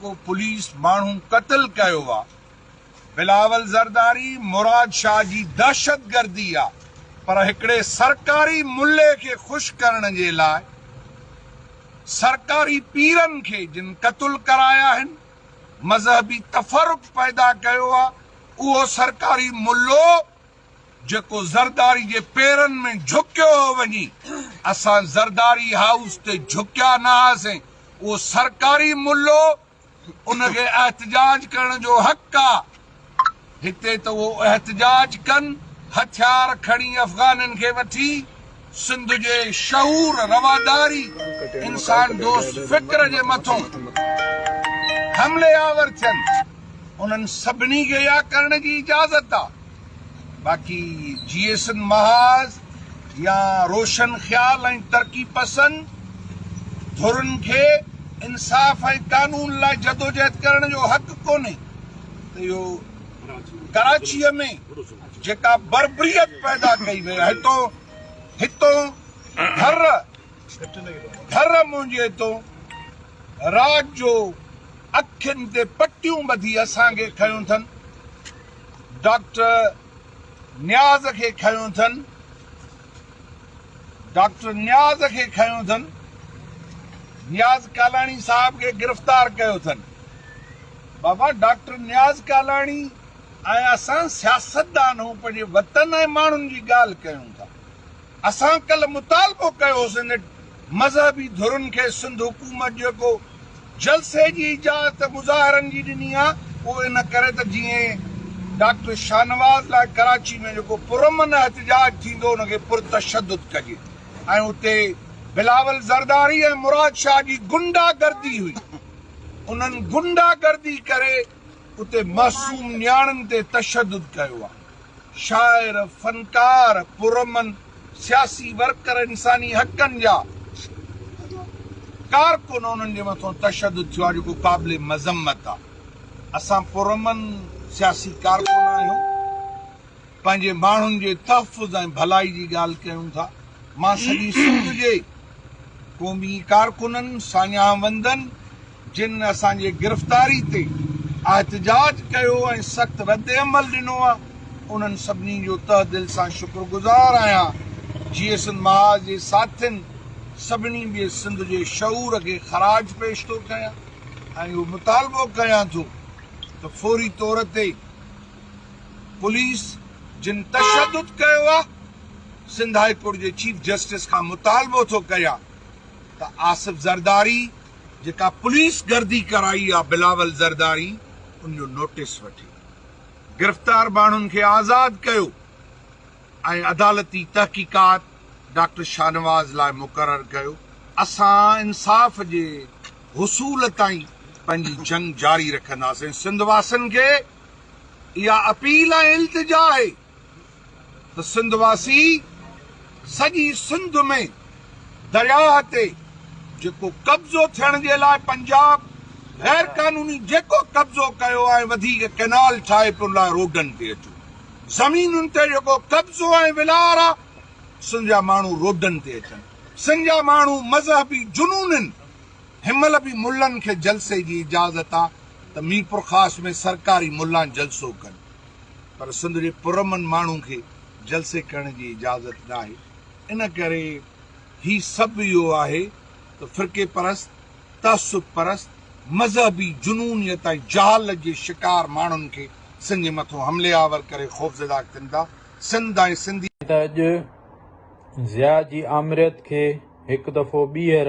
جيڪو پوليس ماڻهو قتل ڪيو آ بلاول زرداري مراد شاھ جي دهشت گردي آ پر هڪڙي سرڪاري ملي کي خوش ڪرڻ جي لاء سرڪاري پيرن کي جن قتل ڪرايا آهن مذهبي تفرق پيدا ڪيو آ اهو سرڪاري ملو جيڪو زرداري جي پيرن ۾ جهڪيو هو وڃي. اسان زرداري هائوس تي جهڪيا نه هئاسين. اهو سرڪاري ملو، ان کي احتجاج ڪرڻ جو حق آ. هتي ته اهو احتجاج ڪن، هٿيار کڻي افغانين کي وٺي. سنڌ جي شعور رواداري انسان دوست فڪر جي مٿون حملي آور ٿين انهن سڀني کي اها ڪرڻ جي اجازت آ باقي جيئسن محاذ يا روشن خيال ۽ ترقي پسند ڌرين کي انصاف ۽ قانون لاء جدوجهد ڪرڻ جو حق ڪونهي ته اهو ڪراچيء ۾ جيڪا بربريت پيدا ڪئي وئي آهي تو هتون ڍر ڍر منهنجي هتون رات جو اکين تي پٽيون ٻڌي اسان کي کنيو اٿن ڊاڪٽر نياز کي کنيو اٿن ڊاڪٽر نياز کي کنيو اٿن نياز ڪالاڻي صاحب کي گرفتار ڪيو اٿن بابا ڊاڪٽر نياز ڪالاڻي ۽ اسان سياستدان هون پنهنجي وطن ۽ ماڻهن جي ڳالهه ڪيون ٿا اسان ڪلهه مطالبو ڪيو هو سينيٽ مذهبي ڌرين کي سنڌ حڪومت جيڪو جلسي جي اجازت مظاهرن جي ڏني آ اهو ان ڪري ته جيئن ڊاڪٽر شاهنواز لاء ڪراچي ۾ جيڪو پرامن احتجاج ٿيندو ان کي پرتشدد ڪجي ۽ اتي بلاول زرداري ۽ مراد شاهه جي غنڊا گردي هئي انهن غنڊا گردي ڪري اتي معصوم نياڻين تي تشدد ڪيو آهي، شاعر، فنڪار، پرامن سياسي ورڪر، انساني حقن جا ڪارڪن انهن جي مٿان تشدد ٿيو آهي جيڪو قابل مذمت آهي، اسان پرامن سياسي ڪارڪن آهيون، پنهنجي ماڻهن جي تحفظ ۽ ڀلائي جي ڳالهه ڪيون ٿا، مان سڄي سنڌ جي قومي ڪارڪنن، ساڃاهه وندن، جن اسان جي گرفتاري تي احتجاج ڪيو ۽ سخت ردعمل ڏنو آهي انهن سڀني جو تهه دل سان شڪر گذار آهيان جيئي سنڌ محاذ جي ساٿين سڀني ٻئي سنڌ جي شعور کي خراج پيش ٿو ڪيان ۽ اهو مطالبو ڪيان ٿو ته فوري طور تي پوليس جن تشدد ڪيو آهي سنڌ هاء ڪورٽ جي چيف جسٽس کان مطالبو ٿو ڪيان ته آصف زرداري. جيڪا پوليس گردي ڪرائي آ بلاول زرداري ان جو نوٽيس وٺي گرفتار ماڻهن کي آزاد ڪيو ۽ عدالتي تحقيقات ڊاڪٽر شاهنواز لاء مقرر ڪيو اسان انصاف جي حصول تائين پنهنجي جنگ جاري رکنداسين سنڌ واسين کي اها اپيل ۽ التجا آهي. ته سنڌ واسي سڄي سنڌ ۾ درياهه تي جيڪو قبضو ٿيڻ جي لاء پنجاب غير قانوني جيڪو قبضو ڪيو ۽ وڌيڪ ڪئنال ٺاهي پڻ لاء روڊن تي اچو زمينن تي جيڪو قبضو ۽ ولار آ سنڌ جا ماڻهو روڊن تي اچن سنڌ جا ماڻهو مذهبي جنونن هنمهل به ملن کي جلسي جي اجازت آ ته ميرپورخاص ۾ سرڪاري ملان جلسو ڪن. پر سنڌ جي پرامن ماڻهن کي جلسي ڪرڻ جي اجازت ناهي ان ڪري هي سڀ اهو آهي ته فرقي پرست تعصب پرست مذهبي جنونيت ۽ جهالت جي شڪار ماڻهن کي سنڌين مٿو حملي آور ڪري خوفزده ڪن ٿا سنڌ ۽ سنڌي ته اڄ ضياء جي آمريت کي هڪ دفعو ٻيهر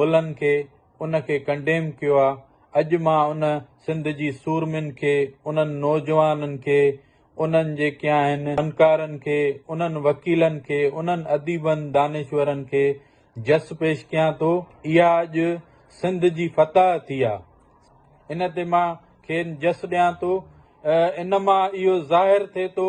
ملن کي ان کي ڪنڊيم ڪيو آ اڄ مان ان سنڌ جي سورمين کي انهن نوجوانن کي انهن جيڪي آهن فنڪارن کي انهن وڪيلن کي انهن اديبن دانشورن کي جس پيش ڪيان ٿو اها اڄ سنڌ جي فتح ٿي آ ان تي مان کين جس ڏيان ٿو ان مان اهو ظاهر ٿي ٿو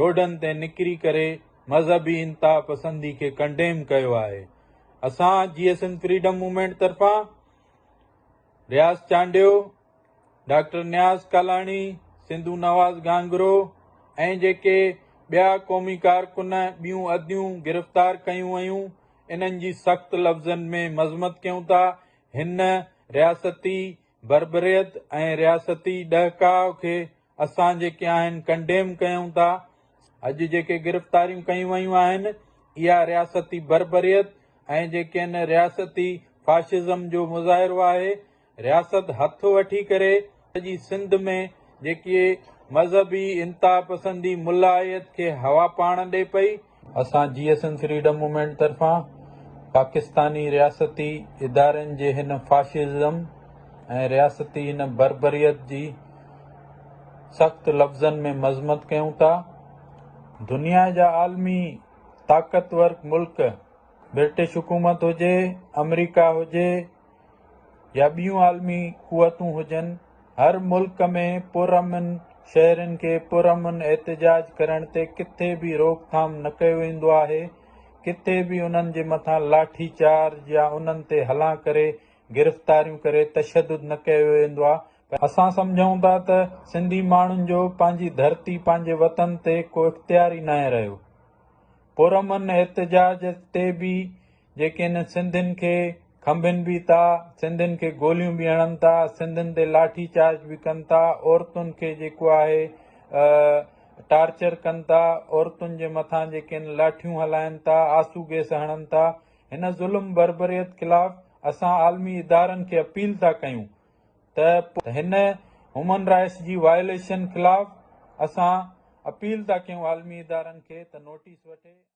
روڊن تي نڪري ڪري مذهبي انتها پسندي کي ڪنڊيم ڪيو آهي اسان جيئي سنڌ فريڊم موومينٽ طرفان رياض چانڊيو ڊاڪٽر نياز ڪالاڻي سنڌو نواز گانگرو ۽ جيڪي ٻيا قومي ڪارڪن ٻيون اديون گرفتار ڪيون ويون انهن جي سخت لفظن ۾ مذمت ڪيون ٿا هن رياستي بربريت ۽ رياستي ڏهڪاء کي اسان جيڪي آهن ڪنڊيم ڪيون ٿا، اڄ جيڪي گرفتاريون ڪيون ويون آهن اها رياستي بربريت ۽ جيڪي ان رياستي فاشزم جو مظاهرو آهي، رياست هٿ وٺي ڪري سڄي سنڌ ۾ جيڪي مذهبي انتها پسندي ملائيت کي هوا پاڻ ڏي پئي، اسان جي ايس اين فريڊم موومينٽ طرفان پاڪستاني رياستي ادارن جي هن فاشزم ۽ رياستي هن بربريت جي سخت لفظن ۾ مذمت ڪيون ٿا. دنيا جا عالمي طاقتور ملڪ برٽش حڪومت هجي، آمريڪا هجي يا ٻيون عالمي قوتون هجن، هر ملڪ ۾ پرامن شهرين کي پرامن احتجاج ڪرڻ تي ڪٿي به روڪ ٿام نه ڪيو ويندو آهي، ڪٿي به انهن جي مٿان لاٺي چارج يا انهن تي هلان ڪري گرفتاريون ڪري تشدد نه ڪيو ويندو آهي، پر اسان سمجهون ٿا ته سنڌي ماڻهن جو پنهنجي ڌرتي پنهنجي وطن تي ڪو اختيار ئي ناهي رهيو، پرامن احتجاج تي به جيڪي نه سنڌين کي کنڀين به ٿا، سنڌين کي گوليون به هڻن ٿا، سنڌين تي لاٺي چارج به ڪن ٿا، عورتن کي جيڪو آهي ٽارچر ڪن ٿا، عورتن جي مٿان جيڪي آهن لاٺيون هلائن ٿا، آسو گيس هڻن ٿا، هن ظلم بربريت خلاف اسان عالمي ادارن کي اپيل ٿا ڪيون ته هن هيومن رائٽس جي وائليشن خلاف اسان اپيل ٿا ڪيون عالمي ادارن کي ته نوٽيس وٺي.